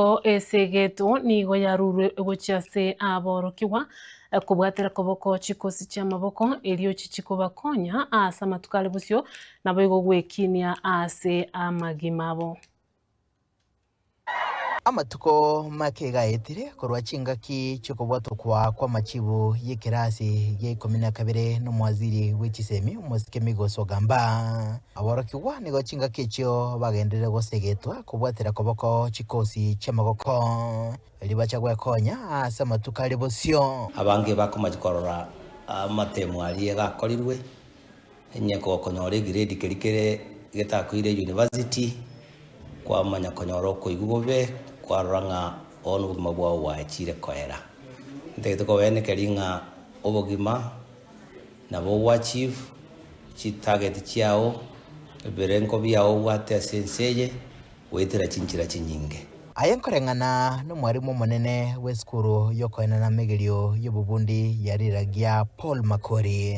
Nabo esegeto nigo yarurwe gochia ase aborokigwa, kobwatera koboko chikosi chi'amaboko, erio chichie kobakonya ase amatuko are bosio, naboigo gwekinia ase amagima abo. Amatuko make gaetire korwa chingaki chi'okobwatokwa kw'amachibu y'ekerasi gia ikomi na kabere n'omwaziri bwe chisemi, Omosike Migos Ogamba. Aborokigwa nigo chingaki echio bagenderire gosegetwa kobwatera koboko chikosi chi'amagoko, ribacha gwekonya ase amatuko aria bosio. Abange bakomanya korora amatemo aria gakorirwe, onye konyora egrade keria kere getakoire university, kwamanya konyora okoigwa bobe, kwarora ng'a bono obogima bwao bwachire koera. Ntagete kobaenekeri ng'a obogima. nabo ogoachieve chitarget chiao, ebirengo biao obwate ase ense eye, goetera chinchera chinyinge. Aye nkoreng'ana n'omwarimu omonene bw'esukuru y'okoenena amegerio y'obobundi ya Riraggia Paul Makori,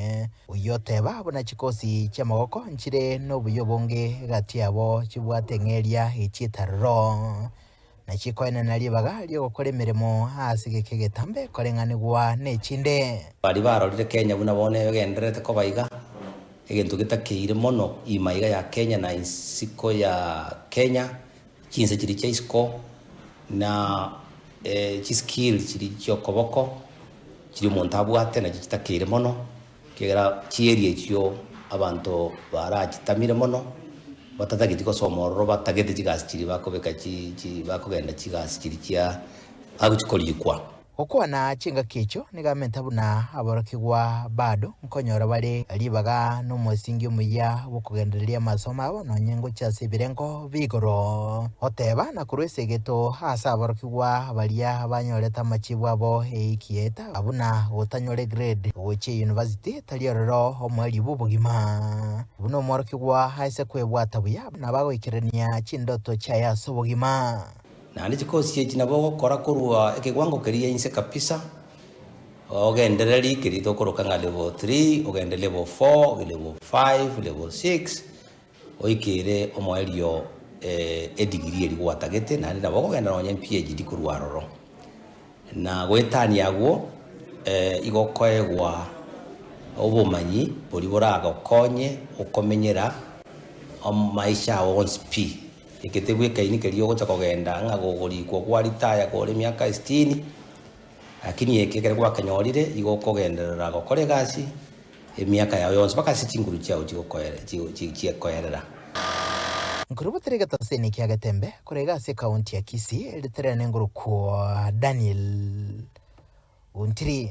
oyio oteba buna chikosi chi'amagoko nchire nobuya obonge egati yabo chibwate eng'eria ye chietarero. na chikoenena ribaga ri'ogokora emeremo ase geke egetambe koreng'anigwa nechinde. Baria barorire Kenya buna bono egendererete koba iga, egento getakeire mono iima iga ya Kenya na isiko ya Kenya, chinse chiria chia isiko na chiskill chiria chi'okoboko chiria omonto abwate nachi chitakeire mono. Ekiagera chieri echio abanto barachitamire mono, batatageti gosoma ororo, batagete chigasi chiria bakobeka chi, chi, bakogenda chigasi chiria chia agochi korikwa. Gokwana chingaki echio nigamenta buna aborokigwa bado nkonyora bare ribaga nomosingi omuya bw'okogendereria amasomo abo nonye ngochia ase ebirengo bi'igoro. Goteba na korwa esegeto ase aborokigwa baria banyorete amachibu abo eiki yaeta, Aa buna gotanyore grade gochia eyunivasiti tari ororo omwari bw'obogima. Buna omworokigwa aise kwebwata buya nabagoikerania chindoto chiaye ase obogima. Naende chikosi echi nabo ogokora korwa ekewango keria inse kabisa, ogendererie keria tokoroka ng'a level three, ogende level four, level five, level six, Oikere omoerio edigiri eria gwatagete naende nabo ogogenda nonya PHD korwa aroro. Na goetania agwo igo okoegwa obomanyi boria boragokonye okomenyera amaisha ao onsi pi. Eke tebwekaini keria ogocha kogenda ng'a kogorikwa gwa retire kore emiaka esitini, lakini eke ekero gwakenyorire igo okogenderera gokora egasi. Emiaka yao yonsi bakasia chinguru chiao chi'ekoerera. Nkoribotera egetaseni kia Getembe korega ase ekaunti ya Kisii ritererane ngoro kwo Daniel Ontiri.